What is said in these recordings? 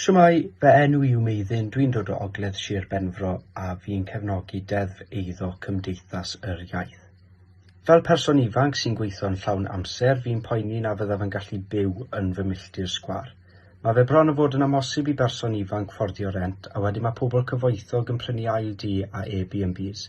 Shwmae, fy enw i yw Meiddyn, dwi'n dod o Ogledd Sir Benfro a fi'n cefnogi Deddf Eiddo Cymdeithas yr Iaith. Fel person ifanc sy'n gweithio'n llawn amser, fi'n poeni na fyddaf yn gallu byw yn fy milltir sgwar. Mae fe bron yn fod yn amosib i berson ifanc fforddio rent a wedyn mae pobl cyfoethog yn prynu ail dŷ a Airbnbs.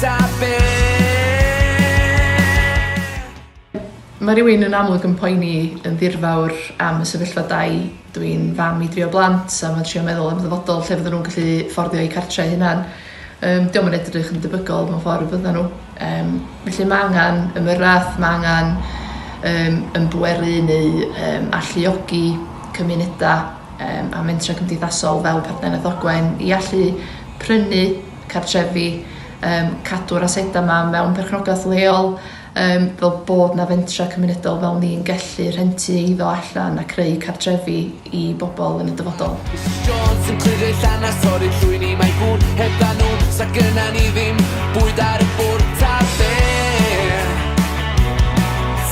Da be? Mae rhywun yn amlwg yn poeni yn ddirfawr am y sefyllfa dai. Dw i'n fam i drio blant a mae'n trio meddwl am ddyfodol lle fydden nhw'n gallu fforddio eu cartrau hunan. Um, diolch yn edrych yn debygol mewn ffordd fydden nhw. Um, felly mae angen ymyrraeth, mae angen um, ymbweru neu um, alluogi cymunedau yym a mentrau cymdeithasol fel partneriaeth Ogwen i allu prynu cartrefi, yym cadw'r asedau 'ma mewn perchnogaeth leol, yym fel bod 'na fentrau cymunedol fel ni'n gellu rhentu eiddo allan a creu cartrefi i bobl yn y dyfodol. Misus Jones yn cludo ei llanast Torri llwyn i mae gŵn hebddan nhw Sa gynna ni ddim bwyd ar y ffwrdd Ta be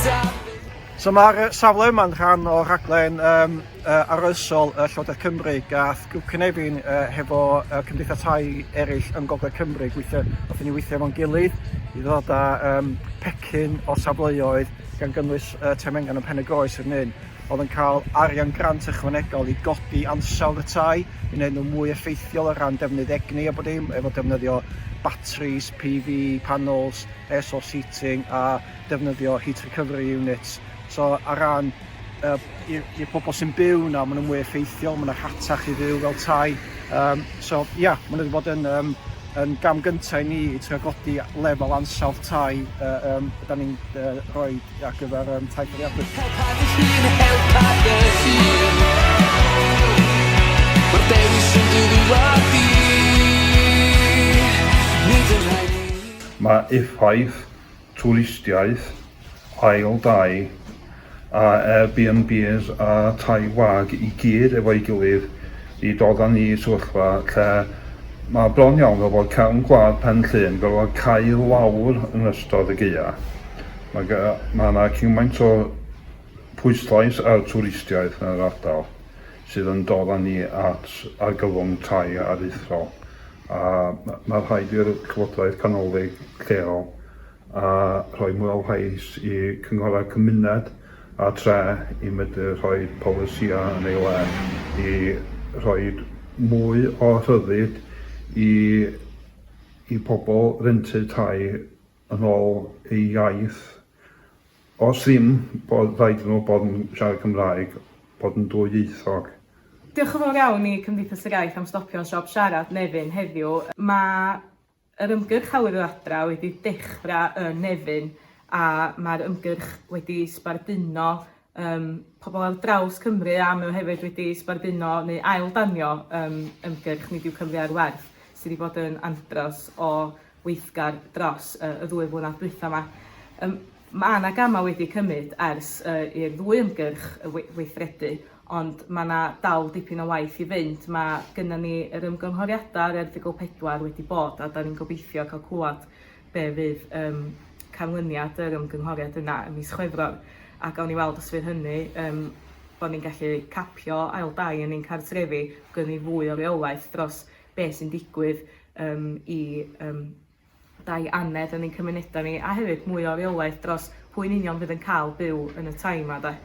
Ta be So mae'r safle yma'n rhan o rhaglen um, uh, arloesol uh, Llywodraeth Cymru gath grŵp cynefin uh, hefo uh, cymdeithas tai eraill yn Gogledd Cymru gweithio, nath ni weithio efo'n gilydd i ddod â um, pecyn o safleoedd gan gynnwys uh, Temengan yn Pen y Groes yn un oedd yn cael arian grant ychwanegol i godi ansawdd y tai, i wneud nhw mwy effeithiol o ran defnydd egni a bod dim, efo defnyddio batteries, PV, panels, air source heating a defnyddio heat recovery units, so ar ran uh, i'r pobl sy'n byw na, maen nhw'n mwy effeithiol, maen nhw'n rhatach i fyw fel tai. Um, so ia, yeah, maen nhw wedi bod yn, um, yn gam gyntaf i ni i trio godi lefel ansawdd tai uh, um, da ni'n uh, rhoi ar gyfer um, tai fforiadwy. Mae effaith twristiaeth, ail dai, a Airbnbs a tai wag i gyd efo'i gilydd i dod â ni i sefyllfa lle mae bron iawn fel bod cefn gwlad Pen Llŷn gorfod cau lawr yn ystod y gaeaf. Mae ga- mae 'na cymaint o pwyslais ar twristiaeth yn yr ardal sydd yn dod â ni at argyfwng tai aruthrol. A mae rhaid i'r Llywodraeth Canolig lleol a rhoi mwy o lais i Cynghorau Cymuned a Tre i medru rhoi polisïau yn ei le i rhoi mwy o rhyddid i i pobl rentu tai yn ôl eu iaith. Os ddim, bod rhaid iddyn nhw bod yn siarad Cymraeg, bod yn dwyieithog. Diolch yn fawr iawn i Cymdeithas yr Iaith am stopio'n siop siarad Nefyn heddiw. Mae yr ymgyrch Awyr yr Adra wedi dechrau yn Nefyn a mae'r ymgyrch wedi sbarduno yym pobl ar draws Cymru a mae o hefyd wedi sbarduno neu ail-danio yym ymgyrch Nid yw Cymru ar Werth sydd wedi bod yn andros o weithgar dros y ddwy flynedd dwytha 'ma. Yym ma' 'na gama' wedi cymyd ers yy i'r ddwy ymgyrch yy we- weithredu ond ma' 'na dal dipyn o waith i fynd ma' gynnon ni yr ymgynghoriada yr erthygl pedwar wedi bod a 'dan ni'n gobeithio ca'l clŵad be' fydd yym canlyniad yr ymgynghoriad yna ym mis Chwefror a gawn ni weld os fydd hynny yym bo' ni'n gallu capio ail dai yn ein cartrefi gawn ni fwy o reolaeth dros be' sy'n digwydd yym i yym dai anedd yn ein cymuneda ni a hefyd mwy o reolaeth dros pwy yn union fydd yn ca'l byw yn y tai 'ma 'de?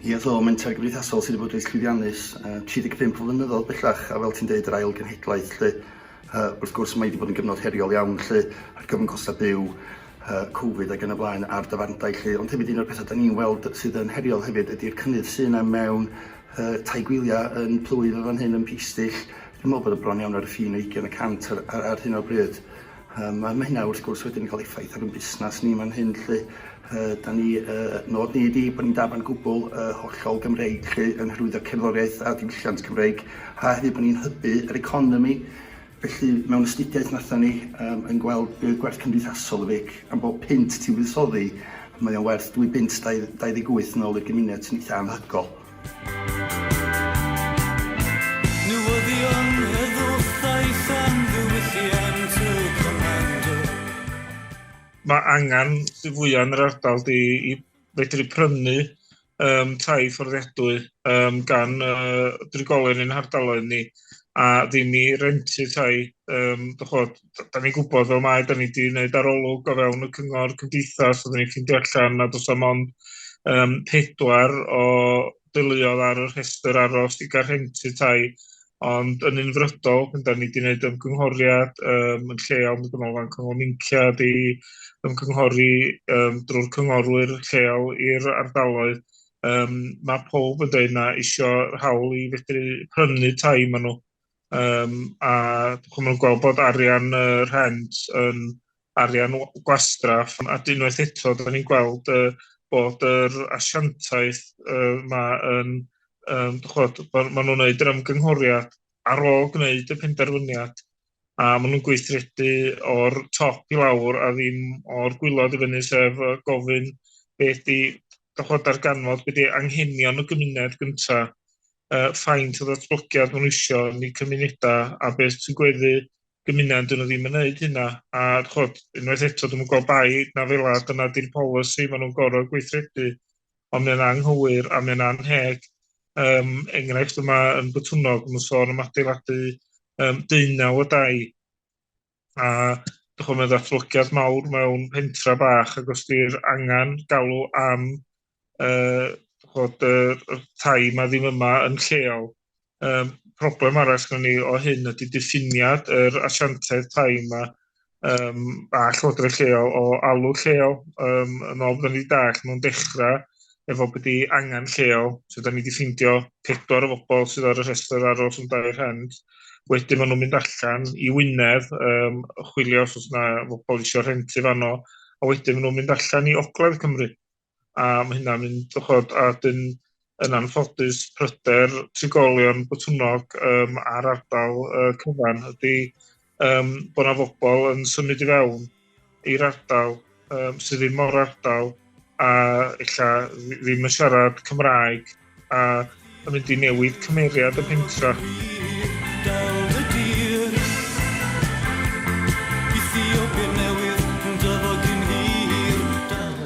Ia do, menter gymdeithasol sydd wedi bod reit llwyddiannus, yy 35 o flynyddoedd bellach, a fel ti'n deud yr ail genhedlaeth 'lly. Yy, wrth gwrs, mae hi 'di bod yn gyfnod heriol iawn lly, ar gyfwng costa' byw, yy Covid ag yn y blaen, a'r dafarndai lly, ond hefyd un o'r petha' 'dan ni'n weld sydd yn heriol hefyd ydi'r cynnydd sy' 'na mewn yy tai gwylia' yn plwyf yn fan hyn, yn Peastill, dwi'n me'wl bod o bron iawn ar y ffin o ugian y cant ar ar ar hyn o bryd, yym a ma' hynna wrth gwrs wedyn yn ca'l effaith ar 'yn busnas ni man hyn lly. Yy, 'dan ni, yy, nôd ni ydi bo' ni'n dafarn gwbwl, yy, hollol Gymreig 'lly, yn hyrwyddo cerddoriaeth a diwylliant Cymreig, a hefyd bo' ni'n hybu yr economi. Felly, mewn astudiaeth nathon ni, yym, yn gweld be' oedd gwerth cymdeithasol y feic. Am bob punt ti'n fuddsoddi, mae o'n werth dwy bunt dau- dau ddeg wyth nôl i'r gymuned, sy'n eitha anhygol. Newyddion Heddwch Daeth am ddiwylliant y Comando. mae angen sy'n fwyaf yn yr ardal di i fedru prynu um, tai fforddiadwy um, gan uh, drigolyn yn hardaloedd ni a ddim i rentu tai. Um, Dych da ni'n gwybod fel mae, da ni wedi gwneud arolwg o fewn y cyngor cymdeithas, oedden ni'n ffeindio allan nad oes am ond um, pedwar o deuluodd ar y rhestr aros i gael rhentu tai, ond yn unfrydol, pan da ni wedi gwneud ymgynghoriad um, yn lleol, mae Gynolfan Cyngor Mincia wedi ymgynghori um, drwy'r cynghorwyr lleol i'r ardaloedd, um, mae pob yn dweud na eisiau hawl i fedru prynu tai maen nhw. um, a chwmw'n gweld bod arian y uh, rhent yn arian gwastraff, a unwaith eto, da ni'n gweld uh, bod yr asiantaeth uh, ma yn, um, chod, maen ma nhw'n gwneud yr ymgynghoriad ar ôl gwneud y penderfyniad, a maen nhw'n gweithredu o'r top i lawr a ddim o'r gwylod i fyny, sef gofyn beth di dychod darganfod, beth di anghenion y gymuned gyntaf, uh, faint o ddatblygiad maen nhw eisiau yn eu cymunedau a beth sy'n gweddu gymuned dyn nhw ddim yn gwneud hynna. A chod, unwaith eto, dwi'n gweld bai na fel a dyna di'r polisi maen nhw'n gorau gweithredu, ond mae'n anghywir a mae'n anheg. Um, enghraifft yma yn bytwnog, mae'n sôn am adeiladu um, deunaw o dau a dych chi'n ddatblygiad mawr mewn pentra bach ac os di'r angen galw am uh, bod y uh, tai yma ddim yma yn lleol. Um, problem arall gan ni o hyn ydy diffiniad yr asiantedd tai yma um, a llywodraeth lleol o alw lleol. Um, yn ôl byddwn ni dall, nhw'n dechrau efo bod i angen lleol. So, da ni wedi ffeindio pedwar o bobl sydd ar y rhestr aros yn dau rhent. Wedyn maen nhw'n mynd allan i Wynedd, um, chwilio os oes yna bobl eisiau rhentu fanno, a wedyn maen nhw'n mynd allan i Ogledd Cymru. A mae hynna'n mynd, chod, a dyn yn anffodus pryder trigolion bytwnog um, ar ardal uh, cyfan ydy um, bod yna fobl yn symud i fewn i'r ardal um, sydd ddim o'r ardal a illa ddim yn siarad Cymraeg a yn mynd i newid cymeriad y pentra.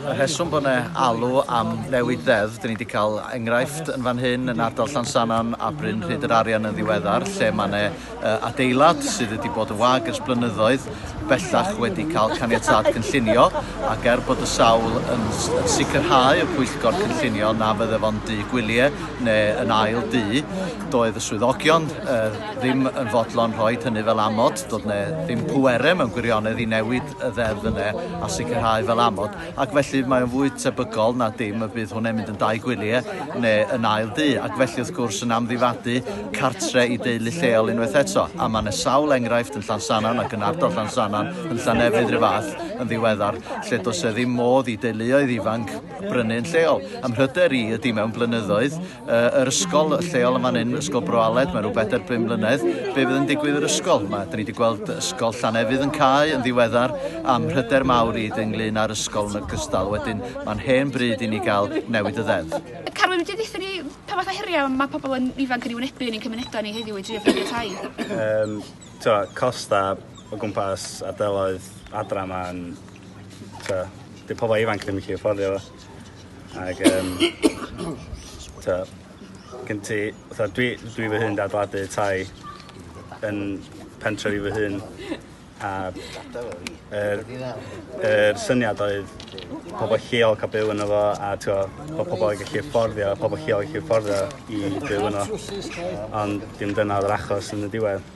Y rheswm bod yna alw am newid ddeddf, dyn ni wedi cael enghraifft yn fan hyn yn ardal Llansanon a Bryn Rhyd yr Arian yn ddiweddar, lle mae yna adeilad sydd wedi bod yn wag ers blynyddoedd, bellach wedi cael caniatâd cynllunio, ac er bod y sawl yn yn sicrhau y pwyllgor cynllunio na fydde fo'n dŷ gwylie neu yn ail dŷ, doedd y swyddogion yy ddim yn fodlon rhoid hynny fel amod, doedd 'ne ddim pwere mewn gwirionedd i newid y ddeddf yne a sicrhau fel amod. ac felly mae'n fwy tebygol na dim y bydd hwnna'n mynd yn dau gwylie neu yn ail dŷ, ac felly wrth gwrs yn amddifadu cartre i deulu lleol unwaith eto, a mae 'na sawl enghraifft yn Llansannan ac yn ardal Llansannan, yn Llanefydd 'run fath, yn ddiweddar, lle does 'na ddim modd i deuluoedd ifanc brynu yn lleol. A'm mhryder i ydi mewn blynyddoedd, yr ysgol lleol yn fan hyn, Ysgol Bro Aled, mae rhyw bedair bum mlynedd. Be fydd yn digwydd yr ysgol? Mae, da ni wedi gweld ysgol Llanefydd yn cael yn ddiweddar am hyder mawr i ynglyn â'r ysgol yn ogystal. Wedyn, mae'n hen bryd i ni gael newid y ddeddf. Carwyn, wedi ddeitha ni pa fath o heriau mae pobl yn ifanc yn ei wynebu yn ein cymunedau ni heddiw i drio ffeindio tai? Um, twa, costa o gwmpas ardaloedd adra mae'n... Twa, di pobl ifanc ddim yn gallu fforddio fo. Ac um, ta, gen ti, ta, dwi, dwi fy hun dadladu tai yn pentref i fy hun. A yr, er syniad oedd pobl lleol cael byw yno fo a twa, bod pobl yn gallu fforddio, pobl lleol yn gallu fforddio i byw yno. Ond dim dyna oedd yr achos yn y diwedd.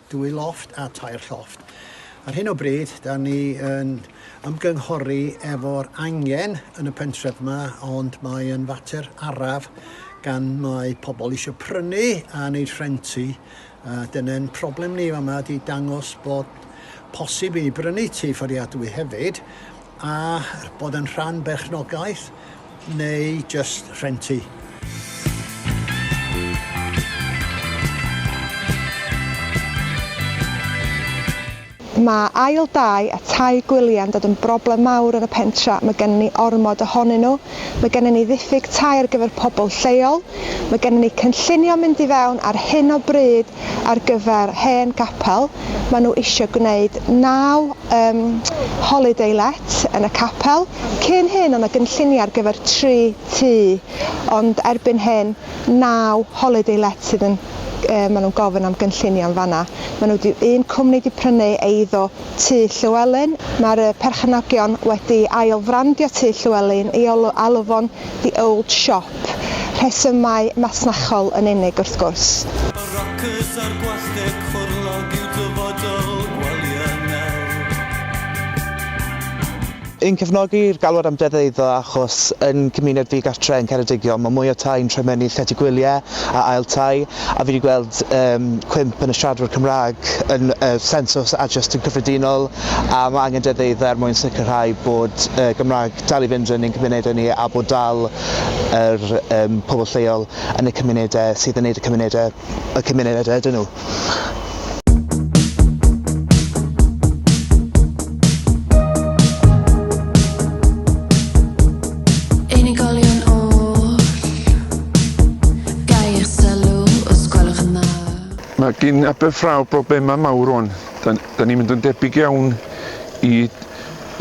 Dwy lofft a tair llofft. Ar hyn o bryd, da ni yn ymgynghori efo'r angen yn y pentref yma, ond mae yn fater araf gan mae pobl eisiau prynu a wneud rhentu. Dyna'n problem ni fan yma, di dangos bod posib i brynu tu fforiadwy hefyd, a bod yn rhan berchnogaeth neu jyst rhentu. Mae ail dai a tai gwyliau'n dod yn broblem mawr yn y pentre', mae gennym ni ormod ohonyn nhw, mae gennym ni ddiffyg tai ar gyfer pobl lleol, mae gennym ni cynllunio mynd i fewn ar hyn o bryd ar gyfer hen gapel, ma nhw isio gwneud naw yym holiday let yn y capel, cyn hyn o' na gynlluniau ar gyfer tri tŷ ond erbyn hyn naw holiday let sydd yn yy ma nhw'n gofyn am gynllunio yn fan'na, ma nhw di un cwmni di prynu eiddo Tŷ Llewelyn, Mae'r perchenogion wedi ail-frandio Tŷ Llewelyn i alw fo'n 'The Old Shop', rhesymau masnachol yn unig wrth gwrs. Y rockers a'r gwasg ffwrlog yw dyfodol Gwelyau Nel. Yn cefnogi'r galwad am deddf eiddo achos yn cymuned ddigartre yn Ceredigion mae mwy o tai'n troi mewn i llety gwyliau a ail tai a fi 'di gweld yym cwymp yn y siaradwyr Cymraeg yn y sensws a jyst yn cyffredinol a mae angen deddf eiddo er mwyn sicrhau bod y Gymraeg dal i fynd yn ein cymunedau ni a bod dal yr yym pobl lleol yn y cymunedau sydd yn neud y cymunedau y cymuned ydyn nhw. Mae gan Aberffraw broblemau mawr rwan. Dan dan ni'n mynd yn debyg iawn i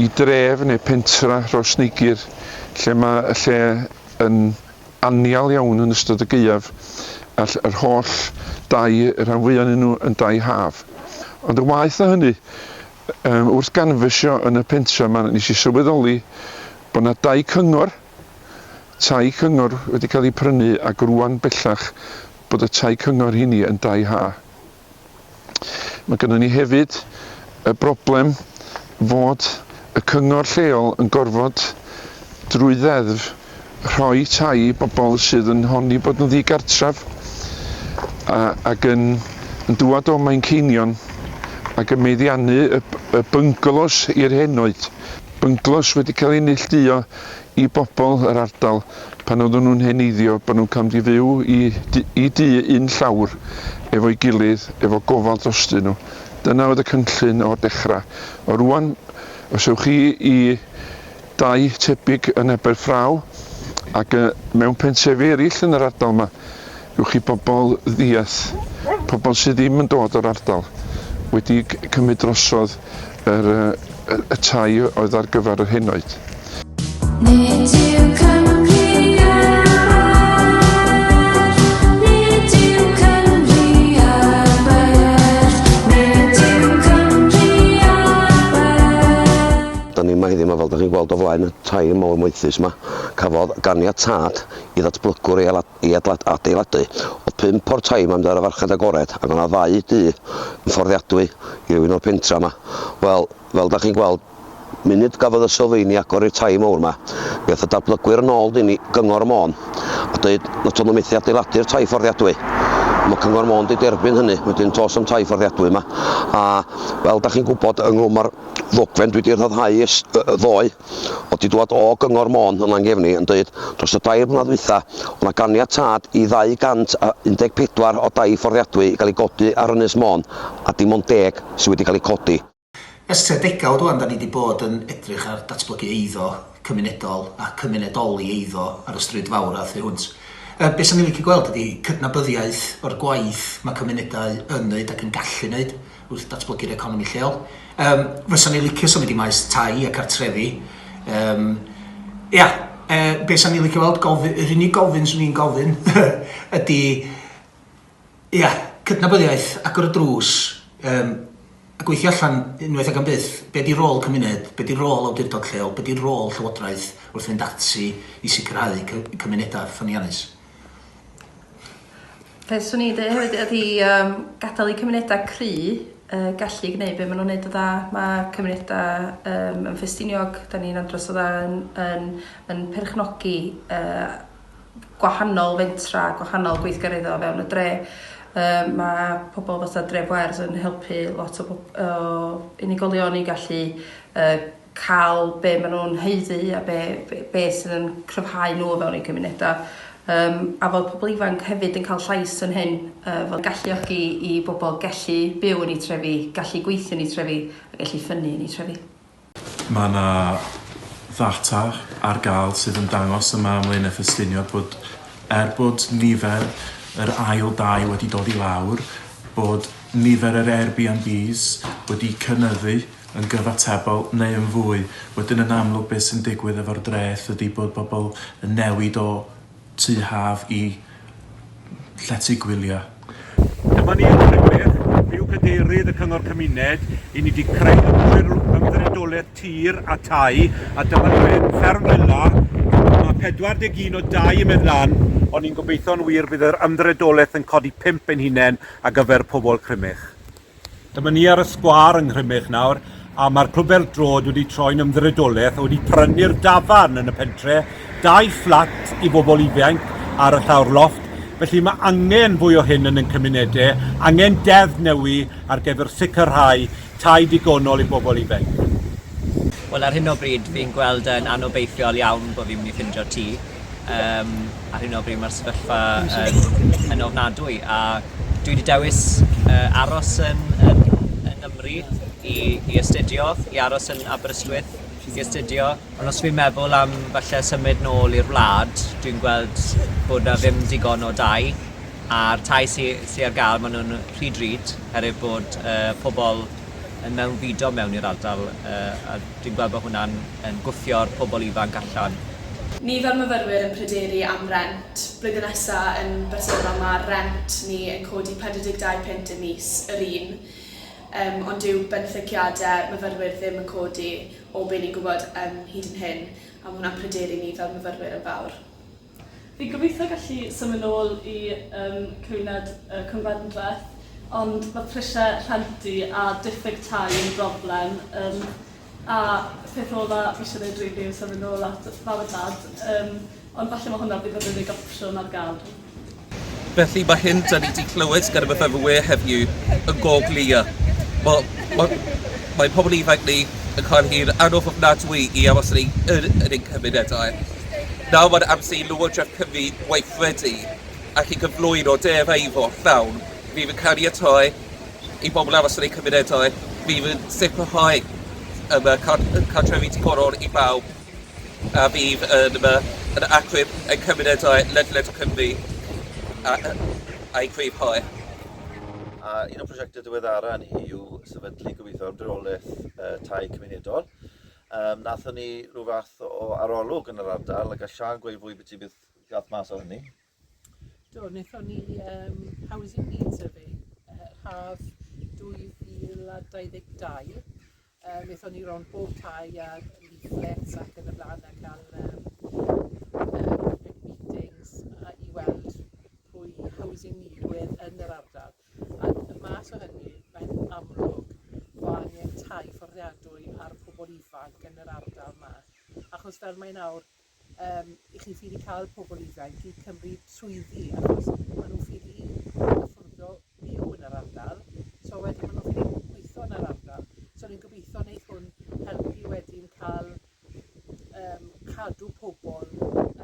i dref neu pentra Rhosneigr lle mae y lle yn annial iawn yn ystod y gaeaf, a ll yr holl dai, y rhan fwya o'nyn nhw yn dai haf. Ond yn waeth na hynny, yym wrth ganfysio yn y pentra 'ma, nes i sylweddoli bo' 'na dai cyngor, tai cyngor wedi ca'l 'u prynu, ac rŵan bellach bod y tai cyngor 'heini yn dai ha. Mae gynnon ni hefyd y broblem fod y cyngor lleol yn gorfod drwy ddeddf rhoi tai i bobl sydd yn honni bod nhw'n ddigartref a ac yn yn dŵad o Manceinion ac yn meddiannu y y bynglos i'r henoed. Bynglos wedi cael ei neillduo i bobl yr ardal pan oedden nhw'n heneiddio bod nhw'n camd i fyw i i dŷ un llawr efo'i gilydd efo gofal drostyn nhw. Dyna oedd y cynllun o'r dechra. O rŵan os ewch chi i dai tebyg yn Aberffraw ac yy mewn pentrefi eryll yn yr ardal 'ma Ewch i bobl ddiath, pobl sydd ddim yn dod o'r ardal, wedi cymryd drosodd yr y tai oedd ar gyfer yr henoed. Nid yw Cymru Da ni yma heddiw yma fel da chi'n gweld o flaen y tai mawr moethus yma. Cafodd ganiatad i ddatblygwr ei i adeiladu. Oedd pump o'r tai 'ma yn mynd ar y farchnad agored ac oedd 'na ddau dŷ yn fforddiadwy i rywun o'r pentra 'ma. Wel, fel 'da chi'n gweld, munud gafodd y sylfeini agor i'r tai mowr 'ma, mi ath y dadblygwyr yn ôl i Gyngor Môn a deud na to' nhw methu adeiladu'r tai fforddiadwy. Mae Cyngor Môn 'di derbyn hynny, wedyn tos am tai fforddiadwy yma. A fel 'da chi'n gwybod, ynghlwm â'r ddogfen dwi 'di rhyddhau ers ddoe, o 'di dŵad o Gyngor Môn yn Langefni yn dweud dros y dair mlynedd ddwytha o' 'na ganiatâd i 214 o dai fforddiadwy i gael ei godi ar Ynys Môn a dim ond deg sy' wedi cael eu codi. Ers tua degawd ŵan 'da ni 'di bod yn edrych ar datblygu eiddo cymunedol a cymunedoli eiddo ar y stryd fawr a thu hwnt. Yy be' 'san ni'n licio gweld ydi cydnabyddiaeth o'r gwaith ma' cymunedau yn neud ac yn gallu neud. wrth datblygu'r economi lleol. Um, fysa ni licio symud i maes tai a cartrefi. Um, ia, e, be sa'n ni licio weld, gofyn, yr unig gofyn swn i'n gofyn ydy, ia, cydnabyddiaeth, agor y drws, um, a gweithio allan unwaith ag am byth, be di rôl cymuned, be di rôl awdurdod lleol, be di rôl llywodraeth wrth fynd ati i sicrhau cymunedau ffyniannus. Be' swn i'n deu' hefyd ydi yym gadal i cymuneda cry' yy gallu gneud be' ma' nw'n neud yn dda. Ma' cymuneda yym yn Ffestiniog, 'dan ni'n andros o dda yn yn yn perchnogi yy gwahanol fentra, gwahanol gweithgaredda o fewn y dre', yym ma' pobol fatha Dref Wales yn helpu lot o bob- o unigolion i gallu yy cael be maen nhw'n haeddu a be, be, be sydd yn cryfhau nhw o fewn eu cymunedau. Yym, a fod pobl ifanc hefyd yn cael llais yn hyn, yy, fod galluogi i bobl gallu byw yn eu trefi, gallu gweithio yn eu trefi a gallu ffynnu yn eu trefi. Mae yna ddata ar gael sydd yn dangos yma ym Mlaenau Ffestiniog bod er bod nifer yr ail dai wedi dod i lawr, bod nifer yr Airbnbs wedi cynyddu. yn gyfatebol neu yn fwy, wedyn yn amlwg beth sy'n digwydd efo'r dreth ydi bod bobl yn newid o tŷ haf i llety gwyliau. Dyma ni yn Nhrewyr, byw Cadeirydd y Cyngor Cymuned, i ni 'di creu Ymddiriedolaeth Tir a Thai a dyma ni mewn fferm fela, mae 41 o dai yn mynd lan, ond ni'n gobeithio'n wir bydd yr Ymddiriedolaeth yn codi pump ein hunain ar gyfer pobl Crymych. Dyma ni ar y sgwâr yng Nghrymych nawr, a mae'r Clwb Bêl Droed wedi troi'n ymddiriedolaeth a wedi prynu'r dafarn yn y pentre, dau fflat i bobl ifainc ar y llawr lofft, felly mae angen fwy o hyn yn ein cymunedau, angen deddf newy ar gyfer sicrhau tai digonol i bobl ifainc. Wel, ar hyn o bryd fi'n gweld yn anobeithiol iawn bod fi'n mynd i ffindio tŷ. Yym ar hyn o bryd ma'r sefyllfa yn yn ofnadwy a dwi 'di dewis yy aros yn yn yn Nymru i i astudio i aros yn Aberystwyth i astudio ond os fi'n meddwl am falle symud nôl i'r wlad dwi'n gweld bod 'na ddim digon o dai a'r tai sy sy ar ga'l ma' nw'n yy rhy drud herwydd bod yy pobol yn mewnfudo mewn i'r ardal yy a Dwi'n gweld bod hwnna'n yn gwthio'r pobl ifanc allan. Nifer myfyrwyr yn pryderu am rent. Blwyddyn nesa yn bersonol ma rent ni yn codi 42 punt y mis, yr un, yym ond dyw benthyciade myfyrwyr ddim yn codi o be ni'n gwybod yym hyd yn hyn a ma hwnna'n pryderu ni fel myfyrwyr yn fawr. Fi'n gobeithio gallu symud nôl i yym cymuned y Cwmfendreth ond ma' prisie rhenti a diffyg tai yn broblem yym a peth ola fi isie neud rili yw symud nôl at fam a dad yym ond falle ma' hwnna bydd yr unig opsiwn ar ga'l. Felly mae hyn dan ni 'di clywed gan y myfyrwyr heddiw yn go glir. Wel, mae, mae pobl ifanc ni yn cael hi'n anodd ofnadwy i aros yn, yn, yn ein cymunedau. Nawr mae'n amser i Lywodraeth Cymru weithredu ac i gyflwyno derau i fod llawn. Fydd yn caniatau i bobl aros yn eu cymunedau, fydd yn sicrhau um, cadrefi digonol i bawb. a fydd yn yma yn achub ein cymunedau ledled Cymru a'u cryf hoe. A un o'n prosiectau diweddara ni yw sefydlu gobeithio ymdreolaeth uh, tai cymunedol. Um, nathon ni rhyw fath o arolwg yn yr ardal a gall Sian gweud fwy beth sy'n beth gath mas o hynny. Do, wnaethon ni yym housing needs survey yy haf 2022. Yy wnaethon ni rownd bob tai a leaflets ac yn y blaen a cael yym yy public meetings a i weld pwy housing need wedd yn yr ardal ac y mas o hynny mae'n amlwg bo' angen tai fforddiadwy ar pobl ifanc yn yr ardal 'ma achos fel mae nawr yym i chi ffili ca'l pobol ifainc i cymryd swyddi achos ma' nw ffili cymryd affordo byw yn yr ardal so wedyn ma' nw ffili gweitho yn yr ardal so ni'n gobeitho neith hwn helpu wedyn ca'l yym cadw pobol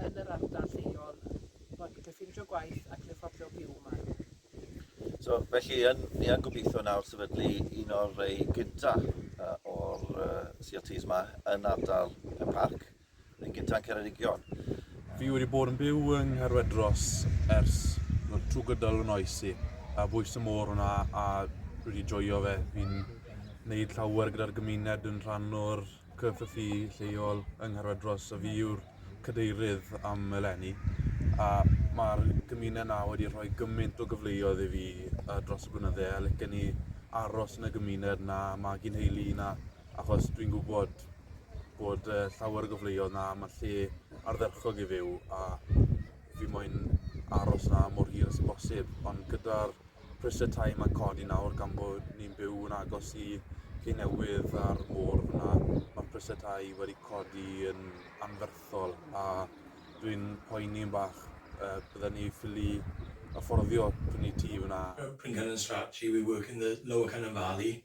yn yr ardal lleol bo' nw'n gallu ffindio gwaith ac yn affordio byw 'ma. So felly yn ni yn gobeitho nawr sefydlu un o'r rei gynta yy o'r yy See El Tees 'ma yn ardal Pen Parc Yn gynta yn Ceredigion. Fi wedi bod yn byw yng Nghaerwedros ers no, trwy gydol fy noes i, a bwys y môr hwnna a dwi wedi joio fe. Fi'n neud llawer gyda'r gymuned yn rhan o'r CFFU lleol yng Nghaerwedros a fi yw'r cadeirydd am eleni a mae'r gymuned na wedi rhoi gymaint o gyfleoedd i fi uh, dros y blynydde a licen i aros yn y gymuned na magu nheulu na achos dwi'n gwybod bod uh, llawer o gyfleoedd na mae lle ardderchog i fyw a fi moyn aros na mor hir as bosib, ond gyda'r prisiau tai mae'n codi nawr gan bod ni'n byw yn agos i lle newydd a'r môr fyna, mae'r prisiau tai wedi codi yn anferthol a dwi'n poeni yn bach uh, bydden ni ffili afforddio prynu tŷ fyna. Pringan and Strathclyde, we work in the lower Cynon Valley,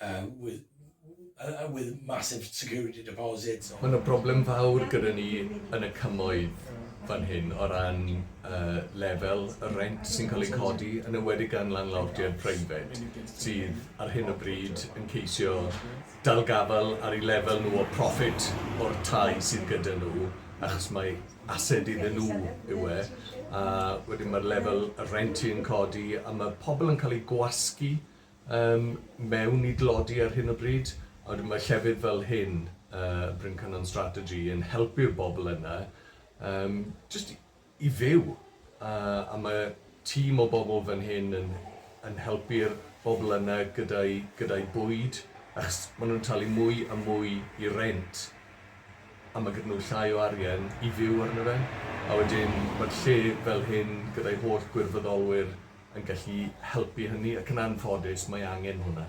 Yy with yy with massive security deposits. Mae 'na broblem fawr gyda ni yn y Cymoedd fan hyn o ran yy lefel y rent sy'n cael ei codi, yn enwedig gan landlordiaid preifat sydd ar hyn o bryd yn ceisio dal gafael ar eu lefel nhw o proffit o'r tai sydd gyda nhw achos mai ased iddyn nhw yw e, a wedyn ma'r lefel y rent yn codi a ma' pobl yn cael eu gwasgu Ym mewn i dlodi ar hyn o bryd, a wedyn mae llefydd fel hyn, yy Bryn Cynon Strategy, yn helpu'r bobl yna yym jyst i i fyw, a a ma' tîm o bobl fan hyn yn yn helpu'r bobl yna gyda'u gyda'u bwyd, achos ma' nhw'n talu mwy a mwy i rent, a ma' gyda nhw llai o arian i fyw arno fe, a wedyn ma'r lle fel hyn gyda'u holl gwirfoddolwyr, yn gallu helpu hynny ac yn anffodus mae angen hwnna.